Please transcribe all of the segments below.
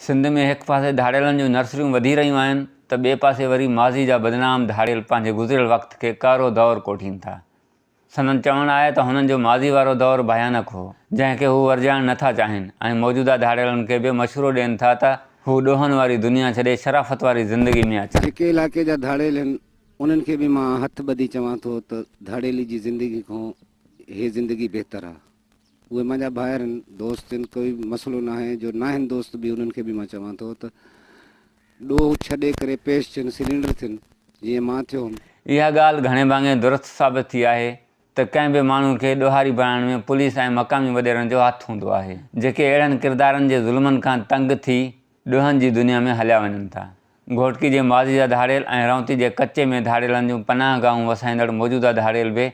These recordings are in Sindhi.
سنڌ ۾ هڪ پاسي ڌاڙيلن جون نرسريون وڌي رهيون آهن ته ٻئي پاسي وري ماضي جا بدنام ڌاڙيل پنهنجي گذريل وقت کي ڪارو دور ڪوٺين ٿا. سندن چوڻ آهي ته هنن جو ماضي وارو دور ڀيانڪ هو، جنهن کي هو ورجائڻ نه ٿا چاهين ۽ موجوده ڌاڙيلن کي به مشورو ڏين ٿا ته هو ڏوهن واري دنيا ڇڏي شرافت واري زندگي ۾ اچن. جيڪي علائقي جا ڌاڙيل آهن، انهن کي به مان هٿ ٻڌي چوان ٿو ته ڌاڙيلي جي زندگي کان هي زندگي بهتر آهي. اهي منهنجا ڀائر هن دوست هن ڪوئي مسئلو ناهي جو ناهن دوست به انهن کي به مان چوان ٿو ته ڏوهه ڇڏي ڪري پيش ٿين سلينڊر ٿين جيئن مان ٿيو هوم. اها ڳالهه گهڻي ڀاڱي درست ثابت ٿي آهي ته ڪنهن به ماڻهو کي ڏوهاري بڻائڻ ۾ پوليس ۽ مقامي وڏيرن جو هٿ هوندو آهي جيڪي اهڙن ڪردارن جي ظلمن کان تنگ ٿي ڏوهن جي دنيا ۾ هليا وڃن ٿا. گهوٽڪي جي ماضي جا ڌاڙيل ۽ رئونتي جي ڪچي ۾ ڌاڙيلن جون پناهه گاهون وسائيندڙ موجوده ڌاڙيل به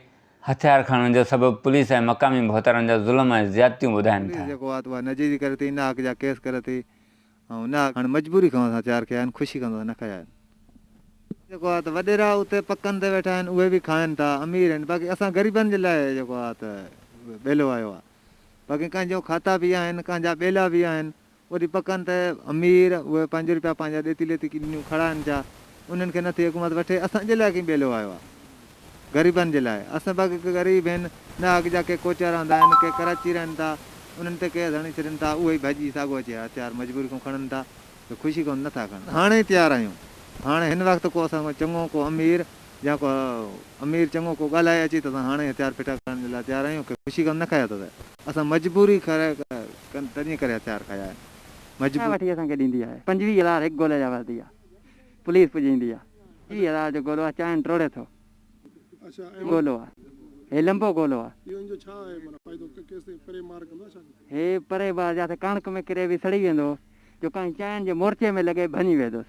هٿيار کڻڻ جو سبب پوليس ۽ مقامي ڀوتارن جا ظلم ۽ زيادتيون ٻڌائين ٿا. پوليس جيڪو آهي اها نجيزي ڪري ٿي، نه حق جا ڪيس ڪري ٿي ۽ نه حق. هاڻي مجبوري کان اسان هٿيار کنيا آهن، خوشي کان ته اسان نه کنيا آهن. جيڪو آهي ته وڏيرا اتي پڪن تي ويٺا آهن، اهي به کائن ٿا، امير آهن، باقي اسان غريبن جي لاء جيڪو آهي ته ٻيلو آيو آهي. باقي ڪنهن جو کاتا به آهن، ڪنهن جا ٻيلا به آهن. وري پڪن ته امير اهي پنج روپيا پنهنجا ڏيتي ليتي ڪنيون کڙا آهن ڇا؟ انهن کي نه ٿي حڪومت وٺي؟ اسان جي لاء ڪئين ٻيلو آيو آهي؟ غريبن جي لاء. اسان به اڳ غريب هين، نه اڳ جا ڪي ڪوچا رهندا آهن، ڪي ڪراچي رهن ٿا، انهن تي ڪيس هڻي ڇڏين ٿا، اهي ئي ڀڄي ساڳو اچي هٿيار مجبوري ڪون کڻن ٿا، جو خوشي ڪون نٿا کڻن. هاڻي ئي تيار آهيون. هاڻي هن وقت ڪو اسان کان چڱو ڪو امير يا ڪو امير چڱو ڪو ڳالهائي اچي ته اسان هاڻي ئي هٿيار ڦٽا ڪرڻ جي لاء تيار آهيون، ڪي خوشي ڪون نه کائي اٿو ته. اسان مجبوري ڪري ڪن تنهنجي ڪري هٿيار کايا آهن مجبوري. وٺي اسان کي ڏيندي آهي پنجويهه هزار هڪ گولي جا ورتي آهي پوليس پڄي ايندي آهي ٽيهه هزار جو گولو آهي چانهن ٽوڙي ٿو گولو آهي هي لنبو گولو آهي هي پري بار جاٿي ڪڻڪ ۾ ڪري به سڙي ويندو جو ڪنهن چانهن جي مورچي ۾ لڳي ڀڃي ويهدوس.